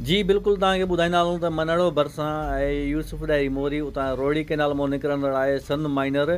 جي بلڪل توهان کي ٻڌائيندا هلون ته منهڙو ڀرسان آهي يوسف ڏاهري موري اتان روهڙي ڪئنال منهن نڪرندڙ آهي سن مائنر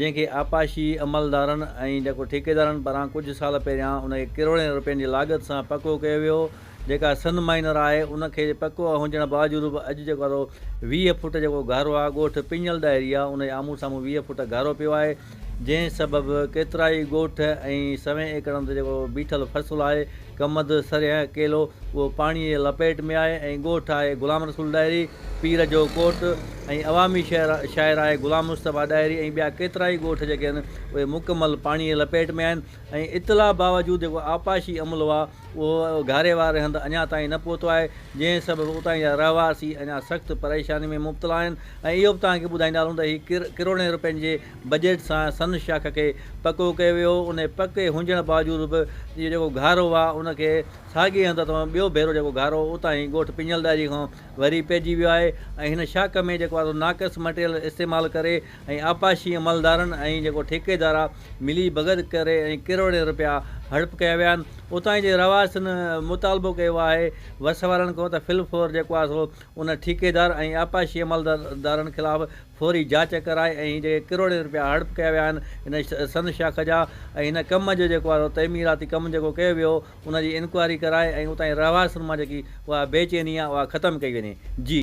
جنهن کي آبپاشي عملدارن ۽ جيڪو ٺيڪيدارن پاران ڪجهه سال پهريان ان کي ڪروڙين رپين جي لاڳت سان پڪو ڪيو ويو جيڪا سن مائنر آهي ان کي پڪو هجڻ باوجود به اڄ جيڪو ويهه فوٽ جيڪو گهارو آهي ڳوٺ پڃل ڏاهري آهي ان جي آمهون سامهون ويهه فوٽ گهارو پيو آهي جنهن سبب ڪيترائي ڳوٺ ۽ سوين ايڪڙن تي جيڪو بيٺل فصل آهي ڪمند، سرهيه، ڪيلو اهو پاڻي جي لپيٽ ۾ آهي ۽ ڳوٺ آهي غلام رسول ڏاهري، پير جو ڪوٽ ۽ عوامي شاعر آهي غلام مصطفيٰ ڏاهري ۽ ٻيا ڪيترائي ڳوٺ جيڪي آهن اهي مڪمل پاڻي جي لپيٽ ۾ آهن ۽ اطلاع باوجود جيڪو آبپاشي عملو آهي، اهو گهاري واري هنڌ اڃا تائين نه پهتو آهي، جنهن سبب اتان جا رهواسي اڃا سخت پريشاني ۾ مبتلا آهن ۽ اهو به توهان کي ٻڌائيندا هلون ته هي ڪر ڪروڙين رپين جي بجيٽ سان سن شاخ کي پڪو ڪيو ويو هو، انهي پڪي هجڻ باوجود به اهو جيڪو گهارو آهي ان کي ساڳئي هنڌ تان ٻيو ڀيرو جيڪو گهارو هو اتان هي ڳوٺ پنجلداري کان وري پئجي ويو آهي ۽ هن شاخ ۾ جيڪو آهي سو ناقص مٽيريل استعمال ڪري ۽ آبپاشي عملدارن ۽ جيڪو ٺيڪيدار آهي ملي ڀڳت ڪري ۽ ڪروڙين رپيا هڙپ ڪيا ويا آهن اتان جي رهواسين مطالبو ڪيو آهي وس وارن کان ته فل فور جيڪو آهي سو ان ٺيڪيدار ۽ آبپاشي عملدارن خلاف فوري جاچ ڪرائي ۽ هي جيڪي ڪروڙين رپيا هڙپ ڪيا ويا آهن هن سن شاخ جا ۽ هن ڪم جو جيڪو آهي سو تعميراتي ڪم جيڪو ڪيو ويو ان جي انڪوائري ڪرائي ۽ اتان جي رهواسين مان جيڪي اها بي چيني آهي اها ختم ڪئي وڃي جي.